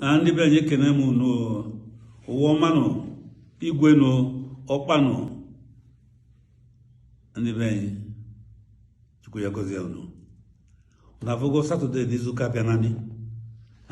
na ndị be anyị ekene m unu ụwa ọmanụ igwe nụ ọkpanụ ndị be anyị chukwu ya gozie unu na afọgo satọde n'izu ụka bịa nanị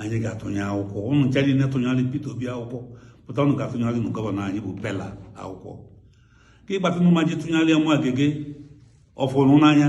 anyị ga-atụnye akwụkwọ unu ncha niile tụnyere Peter Obi akwụkwọ pụta unu ga-atụnyere nụ gọvanọ anyị bụ Pela akwụkwọ ka ịgbatịnụ ma ji tụnyere Omo Agege ọ fụrụ n'anya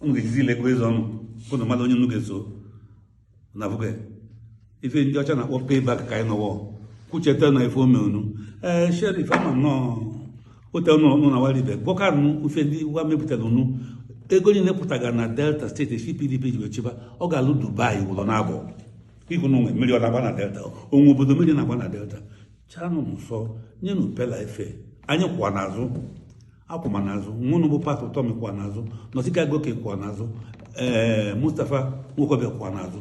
unu ga-ejizi ilekwa eze ọnụ unu malụ onye unu ga-eso na bụga ife ndị ọcha na-akpọ payback ka anyị nọwọ kwucheta na ife o me unu ee Sheriff ama nnọọ ote ọnụ ọnụ na Warri be gwọkanụ ife ndị wa mepụtara unu ego niile pụtaga na Delta steeti esi PDP ji wee chịba ọ ga-alụ Dubai ụlọ na abụọ ihu na o nwe mmiri ọ na-agba na Delta o nwe obodo mmiri na-agba na Delta chanụ nsọ nyenụ Pela efe anyị kwụwa n'azụ akwụma n'azụ nwa unu bụ Pat Utomi kwa n'azụ Nọsika Goke kwa n'azụ ee Mustapha Nwokobia kwa n'azụ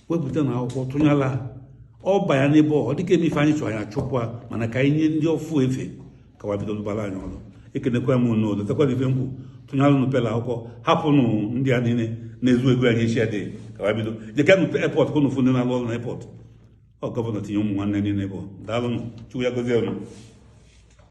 wepụtanụ akwụkwọ tụnyala ọ banya n'ebe ọ dịka eme ife anyị chọrọ anyị achụpụ a mana ka anyị nye ndị ọfụụ efe ka wa bido lụbara anyị ọrụ ekenekwa m unu lotekwa ife m kwu tụnyala unu Pela akwụkwọ hapụnụ ndị a niile na-ezu ego anyị echi adịghị ka wa bido jekanụ airport ka unu fụ ndị na-alụ ọrụ na airport ọ gọvanọ tinye ụmụ nwanne niile ebe ọ daalụnụ Chukwu ya gozie unu